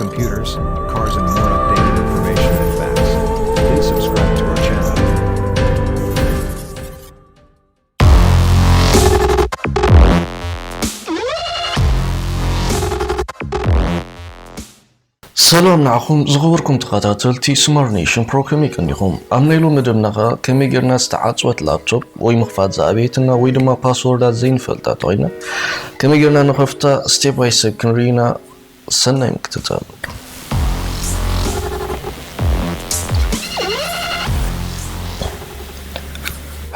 Computers, cars and more updated information and facts. Please subscribe to our channel. ሰላም ንዓኹም ዝኽብርኩም ተኸታተልቲ ስማርት ኔሽን ፕሮ ከመይ ቀኒኹም ኣብ ናይ ሎሚ መደብና ኸኣ ከመይ ጌርና ዝተዓፅወት ላፕቶፕ ወይ ምኽፋት ዝኣበየትና ወይ ድማ ፓስወርዳት ዘይንፈልጣ ተኾይና ከመይ ጌርና ንኸፍታ ስቴፕ ባይ ስቴፕ ክንርኢ ኢና ሰናይ ምክትታል።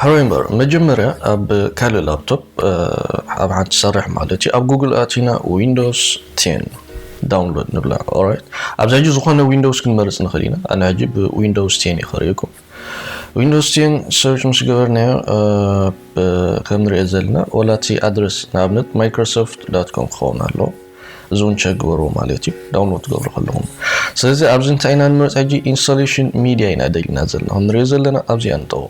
ሓወይ እምበር መጀመርያ ኣብ ካልእ ላፕቶፕ ኣብ ሓንቲ ትሰርሕ ማለት እዩ ኣብ ጉግል ኣቲና ዊንዶስ ቴን ዳውንሎድ ንብላ ኦራይት ኣብዛ ሕጂ ዝኾነ ዊንዶውስ ክንመርጽ ንኽእል ኢና ኣነ ሕጂ ብዊንዶውስ ቴን እየ ከርእየኩም ዊንዶስ ቴን ሰርች ምስ ገበርናዮ ከም ንሪኦ ዘለና ወላ እቲ ኣድረስ ንኣብነት ማይክሮሶፍት ዳት ኮም ክኸውን ኣሎ እዚ እውን ቸክ ግበርዎ ማለት እዩ ዳውንሎድ ትገብሩ ከለኹም ስለዚ ኣብዚ እንታይ ኢና ንመርፅ ሕጂ ኢንስታሌሽን ሚድያ ኢና ደሊና ዘለና ከም ንሪኦ ዘለና ኣብዚኣ ንጠዎ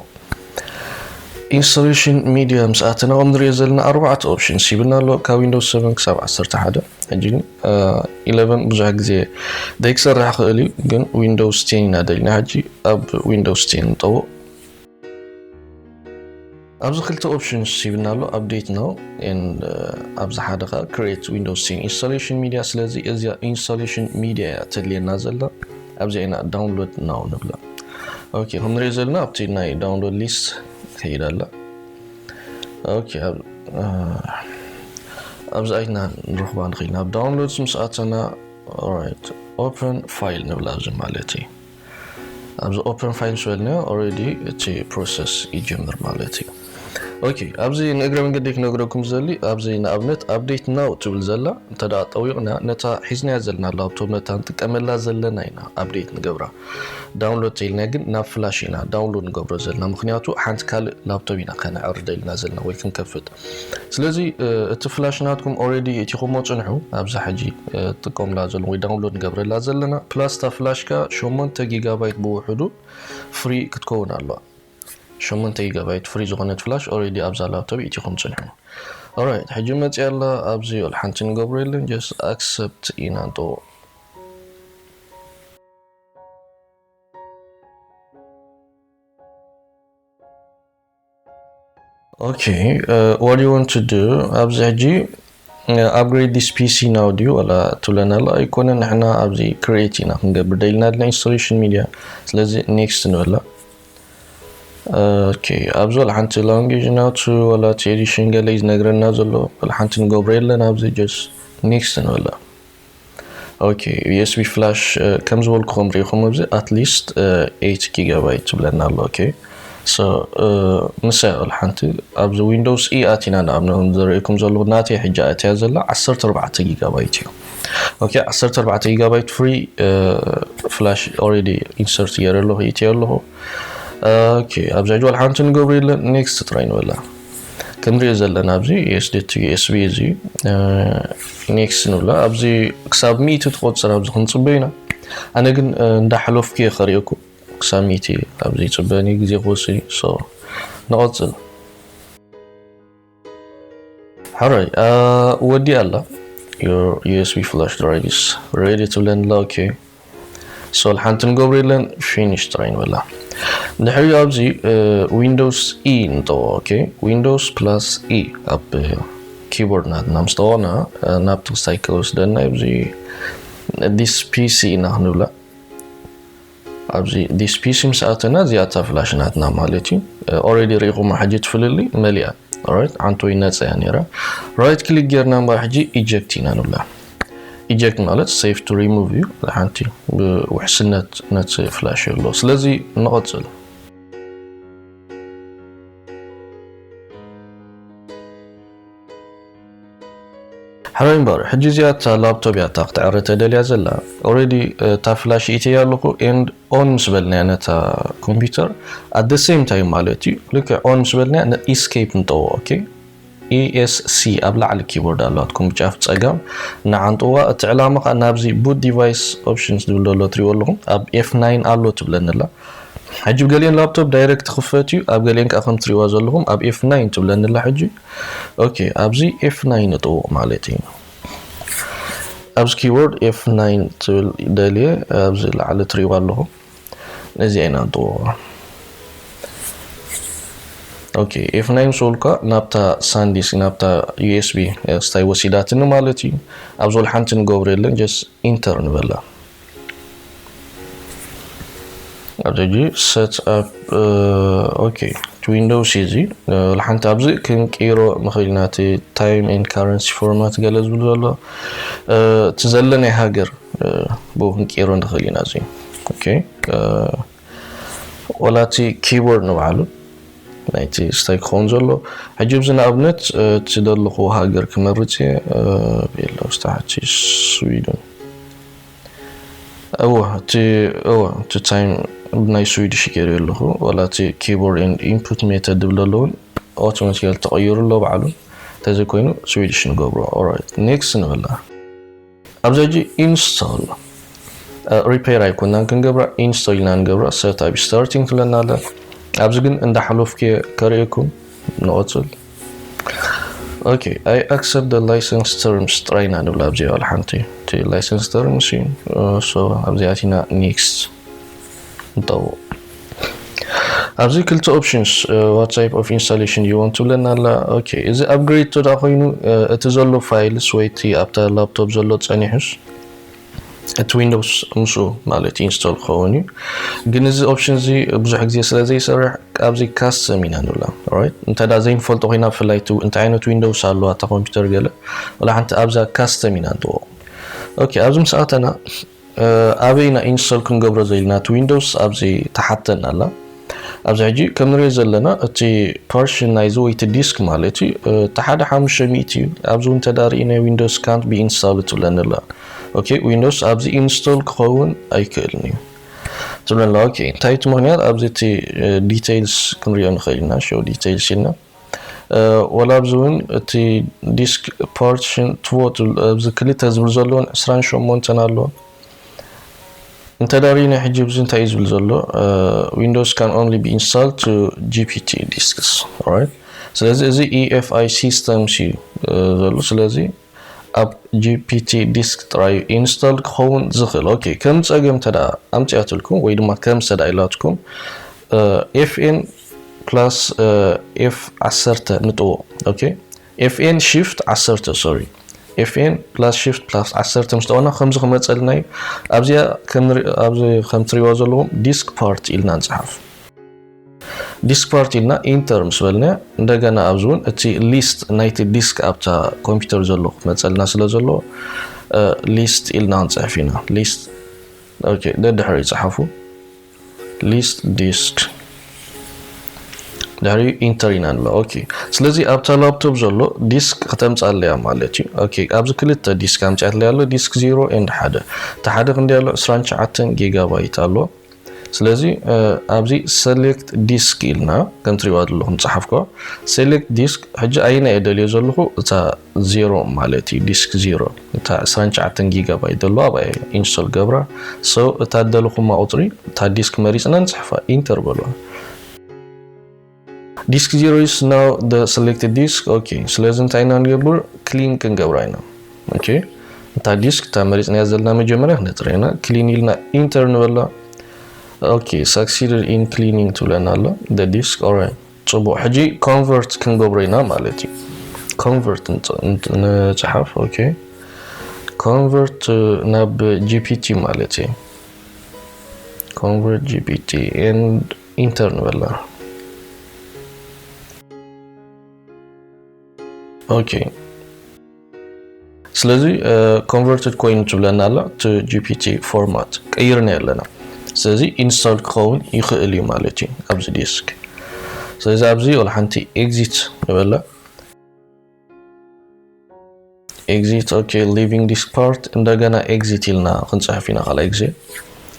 ኢንስታሌሽን ሚድያ ምስ ኣተና ከም ንሪኦ ዘለና ኣርባዕተ ኦፕሽንስ ሂብና ኣሎ ካብ ዊንዶስ 7 ክሳብ 11 ሕጂ ግን ኢለቨን ብዙሕ ግዜ ዘይክሰርሕ ይኽእል እዩ ግን ዊንዶውስ ቴን ኢና ደሊና ሕጂ ኣብ ዊንዶውስ ቴን ንጠዎ ኣብዚ ክልተ ኦፕሽንስ ሂብና ኣሎ ኣፕዴት ነው ኣብዚ ሓደ ከዓ ክሬት ዊንዶውስ ቴን ኢንስታሌሽን ሚድያ ስለዚ እዚያ ኢንስታሌሽን ሚድያ እያ ተድልየና ዘላ ኣብዚኣ ኢና ዳውንሎድ ነው ንብላ ኦኬ ክንሪኦ ዘለና ኣብቲ ናይ ዳውንሎድ ሊስት ትሄዳላ ኦኬ ኣብዚ ኣይትና ንረኽባ ንኽእል ናብ ዳውንሎድስ ምስ ኣተና ኦራይት ኦፕን ፋይል ንብል ኣብዚ ማለት እዩ ኣብዚ ኦፕን ፋይል ምስ በልናዮ ኦልሬዲ እቲ ፕሮሰስ ይጅምር ማለት እዩ ኦኬ ኣብዚ ንእግረ መንገዲ ክነግረኩም ዘሊ ኣብዚ ንኣብነት ኣብዴት ናው ትብል ዘላ እንተ ጠዊቕና ነታ ሒዝናያ ዘለና ላብቶብ ነታ ንጥቀመላ ዘለና ኢና ኣብዴት ንገብራ ዳውንሎድ ተኢልና ግን ናብ ፍላሽ ኢና ዳውንሎድ ንገብሮ ዘለና ምክንያቱ ሓንቲ ካልእ ላፕቶፕ ኢና ከነዕርደ ኢልና ዘለና ወይ ክንከፍት ስለዚ እቲ ፍላሽ ናትኩም ኦሬዲ እቲኹሞ ፅንሑ ኣብዛ ሕጂ ጥቀምላ ዘሎ ወይ ዳውንሎድ ንገብረላ ዘለና ፕላስ እታ ፍላሽካ ሸሞንተ ጊጋባይት ብውሕዱ ፍሪ ክትከውን ኣለዋ ሸሞንተ ጊጋባይት ፍሪ ዝኾነት ፍላሽ ኦሬዲ ኣብዛ ላፕቶፕ እቲኹም ፅንሑ ኦራይት ሕጂ መፅያ ኣላ ኣብዚ ሓንቲ ንገብሮ የለን ጀስት ኣክሰፕት ኢና ንጠዎ ኦኬ ዋት ዩ ዋንት ቱ ዱ ኣብዚ ሕጂ ኣፕግሬድ ዲስ ፒሲ ናው ድዩ ዋላ ትብለና ኣሎ ኣይኮነ ንሕና ኣብዚ ክሬት ኢና ክንገብር ደልና ድና ኢንስቶሌሽን ሚድያ ስለዚ ኔክስት ንበላ ኦኬ ኣብዚ ዋላ ሓንቲ ላንጌጅ ናቱ ዋላ እቲ ኤዲሽን ገለ እዩ ዝነግረና ዘሎ ዋላ ሓንቲ ንገብሮ የለን ኣብዚ ጀስ ኔክስት ንበላ ኦኬ ዩኤስቢ ፍላሽ ከም ዝበልኩኹም ሪኢኹም ኣብዚ ኣትሊስት ኤት ጊጋባይት ትብለና ኣሎ ኦኬ ሶ ንሳ ይቕል ሓንቲ ኣብዚ ዊንዶውስ ኢ ኣቲና ንኣብነ ዘርእኩም ዘለኹ ናተይ ሕጂ ኣትያ ዘላ 14 ጊጋባይት እዩ ኦኬ 14 ጊጋባይት ፍሪ ፍላሽ ኦልሬዲ ኢንሰርት ገይረ ኣለኹ ኢትዮ ኣለኹ ኦኬ ኣብዛ ጅዋል ሓንቲ ንገብሩ የለን ኔክስት ጥራይ ንበላ ክንሪኦ ዘለና ኣብዚ ስደት ዩኤስቢ እዚ ኔክስ ንብሎ ኣብዚ ክሳብ ሚእቲ ትቆፅር ኣብዚ ክንፅበ ኢና ኣነ ግን እንዳሓለፍኩ እየ ከሪኦኩ ክሳብ ሚእቲ ኣብዚ ይፅበን እዩ ግዜ ክወስድ እዩ ሶ ንቐፅል ሕራይ ወዲኣ ኣላ ዩኤስቢ ፍላሽ ድራይቭስ ሬዲ ትብለኒ ኣላ ኦኬ ሶል ሓንቲ ንገብሮ የለን ፊኒሽ ጥራይ ንበላ ድሕሪኡ ኣብዚ ዊንዶውስ ኢ ንጠዎ ኦኬ ዊንዶውስ ፕላስ ኢ ኣብ ኪቦርድ ናትና ምስ ጠወና ናብቲ ክሳይ ከወስደና ኣብዚ ዲስ ፒሲ ኢና ክንብላ ኣብዚ ዲስ ፒሲ ምስ ኣተና እዚኣ እታ ፍላሽ ናትና ማለት እዩ ኦረዲ ርኢኹማ ሕጂ ትፍልሊ መሊኣ ራይት ዓንቶ ይነፀያ ነይራ ራይት ክሊክ ጌርና እምበር ሕጂ ኢጀክት ኢና ንብላ ኢጀክት ማለት ሴፍ ቱ ሪሙቭ እዩ ሓንቲ ብውሕስነት ነቲ ፍላሽ ኣሎ ስለዚ ንቐፅል ሕራይ እምበር ሕጂ እዚኣ እታ ላፕቶፕ እያ እታ ክትዕረ ተደልያ ዘላ ኦረዲ እታ ፍላሽ ኢተያ ኣለኹ ኤንድ ኦን ምስ በልናያ ነታ ኮምፒውተር ኣት ደ ሴም ታይም ማለት እዩ ልክዕ ኦን ምስ በልናያ ንኢስኬፕ ንጠዎ ኦኬ ESC ኣብ ላዕሊ ኪቦርድ ኣላትኩም ጫፍ ጸጋም ንዓንጥዋ እቲ ዕላማ ከኣ ናብዚ Boot Device Options ዝብል ዶ ኣሎ ትሪእዎ ኣለኹም ኣብ F9 ኣሎ ትብለኒ ኣላ ሕጂ ብ ገሊኤን ላፕቶፕ ዳይረክት ትኽፈት እዩ ኣብ ገሊኤን ከኣ ከም ትሪእዋ ዘለኹም ኣብ F9 ትብለኒ ኣላ ሕጂ ኦኬ ኣብዚ F9 ንጥውቕ ማለት እዩ ኣብዚ ኪቦርድ F9 ትብል ደልየ ኣብዚ ላዕሊ ትሪእዋ ኣለኹም ነዚ ኣይንኣንጥዎ ኦኬ ኤፍ ናይ ምስ በልኳ ናብታ ሳንዲስ ናብታ ዩኤስቢ ስታይ ወሲዳትኒ ማለት እዩ ኣብ ዝበል ሓንቲ ንገብሮ የለን ጀስት ኢንተር ንበላ ኣብዚ ሕጂ ሰት ኣፕ ኦኬ እቲ ዊንዶውስ እዩ እዚ ሓንቲ ኣብዚ ክንቅይሮ ንኽእል ኢና እቲ ታይም ኤንድ ካረንሲ ፎርማት ገለ ዝብል ዘሎ እቲ ዘለናይ ሃገር ብኡ ክንቅይሮ ንኽእል ኢና እዚ ዋላ እቲ ኪቦርድ ንባዕሉ ናይቲ ስታይ ክኸውን ዘሎ ሕጂ ብዚ ንኣብነት እቲ ዘለኹዎ ሃገር ክመርፅ እየ ቤሎ ስታሓቲ ስዊድን እወ እቲ እወ እቲ ታይም ብናይ ስዊድሽ ገይሩ ኣለኹ ዋላ እቲ ኪቦርድ ኤንድ ኢንፑት ሜተድ ዝብለ ኣለውን ኣውቶማቲካሊ ተቐይሩ ኣሎ ባዕሉ እንተዘይኮይኑ ስዊድሽ ንገብሮ ኦራይት ኔክስት ንበላ ኣብዚ ሕጂ ኢንስቶል ሪፐር ኣይኮናን ክንገብራ ኢንስቶል ኢና ንገብራ ሰርት ኣብ ስታርቲንግ ክለና ኣለ ኣብዚ ግን እንዳሓለፍኩ ከርእየኩም ንቐፅል ኦኬ ኣይ ኣክሰፕት ደ ላይሰንስ ተርምስ ጥራይ ኢና ንብላ ኣብዚኣ ዋላ ሓንቲ እቲ ላይሰንስ ተርምስ እዩ ሶ ኣብዚ ኣቲና ኔክስት ንጠውቕ ኣብዚ ክልተ ኦፕሽንስ ዋት ታይፕ ኦፍ ኢንስታሌሽን ዩ ዋንት ትብለና ኣላ ኦኬ እዚ ኣፕግሬድ ተዳ ኮይኑ እቲ ዘሎ ፋይልስ ወይ እቲ ኣብታ ላፕቶፕ ዘሎ ጸኒሑስ እቲ ዊንዶውስ ምስኡ ማለት ኢንስቶል ክኸውን እዩ ግን እዚ ኦፕሽን እዚ ብዙሕ ግዜ ስለ ዘይሰርሕ ኣብዚ ካስተም ኢና ንብላ ራይት እንተ ዘይንፈልጦ ኮይና ብፍላይ እንታይ ዓይነት ዊንዶውስ ኣለዋ እታ ኮምፒውተር ገለ ወላ ሓንቲ ኣብዛ ካስተም ኢና ንጥወቕ ኦኬ ኣብዚ ምስ ኣተና ኣበይ ኢና ኢንስቶል ክንገብሮ ዘኢልና እቲ ዊንዶውስ ኣብዚ ትሓተና ኣላ ኣብዚ ሕጂ ከም ንሪኦ ዘለና እቲ ፖርሽን ናይዚ ወይ እቲ ዲስክ ማለት እዩ እቲ ሓደ ሓሙሽተ ሚእቲ እዩ ኣብዚ እውን ተዳሪእናዮ ዊንዶውስ ካንት ብኢንስታል ትብለኒ ኣላ ኦኬ ዊንዶውስ ኣብዚ ኢንስቶል ክኸውን ኣይክእልን እዩ ትብለና ኦኬ እንታይ እቲ ምክንያት ኣብዚ እቲ ዲቴይልስ ክንሪኦ ንኽእል ኢና ሾው ዲቴይልስ ኢልና ወላ ኣብዚ ውን እቲ ዲስክ ፓርቲሽን ትቮ ኣብዚ ክልተ ዝብል ዘሎን ዕስራን ሸሞንተን ኣሎ እንተ ዳሪና ሕጂ ብዚ እንታይ እዩ ዝብል ዘሎ ዊንዶውስ ካን ኦንሊ ቢ ኢንስታል ቱ ጂፒቲ ዲስክስ ስለዚ እዚ ኢኤፍኣይ ሲስተምስ እዩ ዘሎ ስለዚ ኣብ gpt disk ጥራዩ ኢንስቶል ክኸውን ዝኽእል። ኦኬ ከም ጸገም እንተድኣ ኣምጺኣትልኩም ወይ ድማ ከም ዝተድኣ ኢላትኩም FN plus F ዓሰርተ ንጥዎ። ኦኬ FN shift ዓሰርተ ሶሪ FN plus shift plus ዓሰርተ ምስ ጠወና ከምዚ ክመጸልና እዩ። ኣብዚኣ ኣብዚ ከም ትሪእዋ ዘለዎም disk part ኢልና ንጽሓፍ። ዲስክፓርት ኢልና ኢንተር ምስ በልና እንደገና ኣብዚ እውን እቲ ሊስት ናይቲ ዲስክ ኣብታ ኮምፒውተር ዘሎ ክትመፀልና ስለ ዘለዎ ሊስት ኢልና ክንፅሕፍ ኢና ሊስት ኦኬ ደድሕሪ ይፅሓፉ ሊስት ዲስክ ድሕሪ ኢንተር ኢና ንብሎ ኦኬ ስለዚ ኣብታ ላፕቶፕ ዘሎ ዲስክ ክተምፃለያ ማለት እዩ ኦኬ ኣብዚ ክልተ ዲስክ ኣምፅያትለይ ኣሎ ዲስክ ዜሮ ኤንድ ሓደ እቲ ሓደ ክንደይ ኣሎ 29 ጊጋባይት ኣሎ ስለዚ ኣብዚ ሰሌክት ዲስክ ኢልና ከም ትሪእዋ ዘለኹም ጸሓፍኮ ሰሌክት ዲስክ ሕጂ ኣየና እየ ደልዮ ዘለኹ እታ ዜሮ ማለት እዩ ዲስክ ዜሮ እታ 29 ጊጋባይት ዘለዋ ኣብኣ ኢንስቶል ገብራ ሰው እታ ደለኹማ ቁፅሪ እታ ዲስክ መሪፅና ንፅሕፋ ኢንተር በልዋ ዲስክ ዜሮ ኢስ ናው ደ ሰሌክትድ ዲስክ ኦኬ ስለዚ እንታይ ኢና ንገብር ክሊን ክንገብራ ኢና ኦኬ እታ ዲስክ እታ መሪፅናያ ዘለና መጀመርያ ክነፅራ ኢና ክሊን ኢልና ኢንተር ንበላ ኦኬ ሳክሲድድ ኢን ክሊኒንግ ትብለና ኣሎ ደ ዲስክ ኦራይ ፅቡቅ ሕጂ ኮንቨርት ክንገብሮ ኢና ማለት እዩ ኮንቨርት ንፅሓፍ ኦኬ ኮንቨርት ናብ ጂፒቲ ማለት እዩ ኮንቨርት ጂፒቲ ኤንድ ኢንተር ንበላ ኦኬ ስለዚ ኮንቨርትድ ኮይኑ ትብለና ኣላ እቲ ጂፒቲ ፎርማት ቀይርና ኣለና ስለዚ ኢንስቶል ክኸውን ይኽእል እዩ ማለት እዩ ኣብዚ ዴስክ ስለዚ ኣብዚ ወላ ሓንቲ ኤግዚት ንበላ ኤግዚት ኦኬ ሊቪንግ ዲስ ፓርት እንደገና ኤግዚት ኢልና ክንፅሕፍ ኢና ካልኣይ ግዜ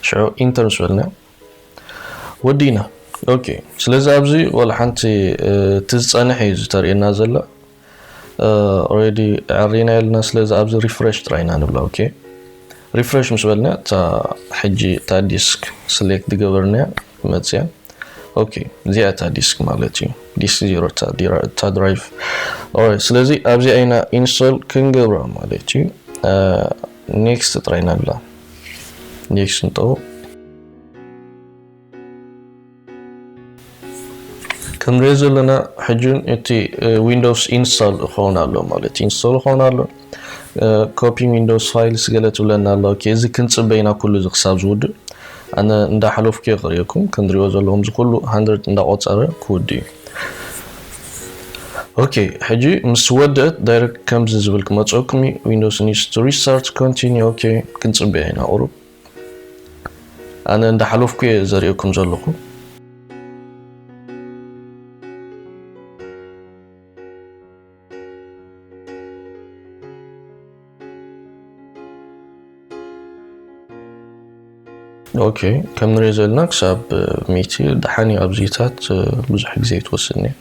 ሽዑ ኢንተር ምስ በልና ወዲእና ኦኬ ስለዚ ኣብዚ ወላ ሓንቲ እቲ ዝፀንሕ እዩ ዝተርእየና ዘሎ ኦሬዲ ዕሪና የልና ስለዚ ኣብዚ ሪፍሬሽ ጥራይና ንብላ ኦኬ ሪፍረሽ ምስ በልና እታ ሕጂ እታ ዲስክ ስሌክት ዝገበርናያ ትመጽያ ኦኬ እዚኣ እታ ዲስክ ማለት እዩ ዲስክ ዜሮ እታ ድራይቭ ኦራይት ስለዚ ኣብዚኣ ኢና ኢንስቶል ክንገብራ ማለት እዩ ኔክስት ጥራይ ናብላ ኔክስት ንጠው ክንሪኦ ዘለና ሕጂ እቲ ዊንዶውስ ኢንስታል ክኸውን ኣሎ ማለት ኢንስቶል ክኸውን ኣሎ ኮፒ ዊንዶውስ ፋይልስ ገለ ትብለና ኣሎ እዚ ክንፅበይና ኩሉ እዚ ክሳብ ዝውድእ ኣነ እንዳሓለፍኩ እየ ክርእየኩም ክንሪኦ ዘለኹም እዚ ኩሉ ሃንድረድ እንዳቆፀረ ክውድ እዩ ኦኬ ሕጂ ምስ ወደት ዳይረክት ከምዚ ዝብል ክመፀኩም እዩ ዊንዶውስ ኒድስ ቱ ሪስታርት ኮንቲኒ ኦኬ ክንፅበያ ኢና ቁሩብ ኣነ እንዳሓለፍኩ እየ ዘርእየኩም ዘለኹ። ኦኬ ከም ንሪኦ ዘለና ክሳብ ሚቲ ደሓን እዩ ኣብዚታት ብዙሕ ግዜ ትወስድ እያ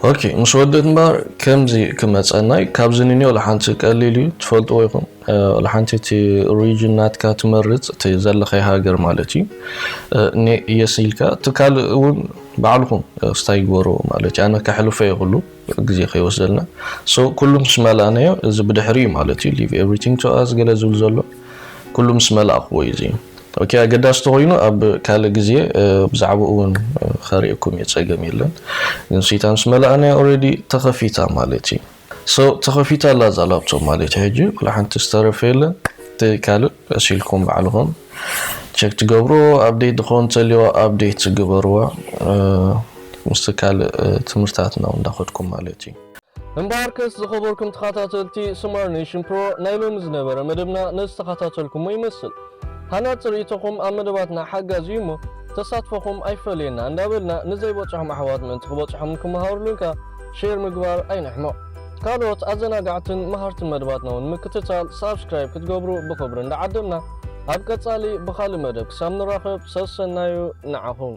ኦኬ ምስ ወድእት እምበር ከምዚ ክመፀናይ ካብዚ ንኒዮ ለሓንቲ ቀሊል እዩ ትፈልጥዎ ይኹም ለሓንቲ እቲ ሪጅን ናትካ ትመርፅ እቲ ዘለኸይ ሃገር ማለት እዩ ኔ እየስ ኢልካ እቲ ካልእ እውን ባዕልኹም ስታይ ግበርዎ ማለት እዩ ኣነ ከሕልፈ የኽሉ ግዜ ከይወስደልና so ኩሉ ምስ መላእናዮ እዚ ብድሕሪ እዩ ማለት እዩ leave everything to us ገለ ዝብል ዘሎ ኩሉ ምስ መላእክዎ እዩ እዚ ok ኣገዳሲ ተኾይኑ ኣብ ካልእ ግዜ ብዛዕባኡ እውን ከርእየኩም እየ ጸገም የለን ግን ስይታ ምስ መላእናያ already ተኸፊታ ማለት እዩ so ተኸፊታ ኣላ እዛ ላፕቶፕ ማለት እዩ ሕጂ ዋላ ሓንቲ ዝተረፈ የለን እቲ ካልእ ቀሲልኩም ባዕልኹም ቸክ ትገብርዎ ኣብዴት ድኾን ተልዮ ኣብዴት ግበርዎ ምስቲ ካልእ ትምህርታት ናብ እንዳኸድኩም ማለት እዩ። እምበኣርከስ ዝኸበርኩም ተኻታተልቲ ስማር ኔሽን ፕሮ ናይ ሎሚ ዝነበረ መደብና ነዚ ዝተኻታተልኩሞ ይመስል ሃናጺ ርኢቶኹም ኣብ መደባትና ሓጋዚ እዩ እሞ ተሳትፎኹም ኣይፈለየና እንዳበልና ንዘይበጽሖም ኣሕዋት ምእንቲ ክበጽሖምን ክመሃርሉንከ ሼር ምግባር ኣይንሕመቕ። ካልኦት ኣዘናጋዕትን መሃርትን መደባትና ውን ንምክትታል ሳብስክራይብ ክትገብሩ ብኽብሪ እንዳዓደምና ኣብ ቀጻሊ ብኻልእ መደብ ክሳብ ንራኸብ ሰሰናዩ ንዓኹም።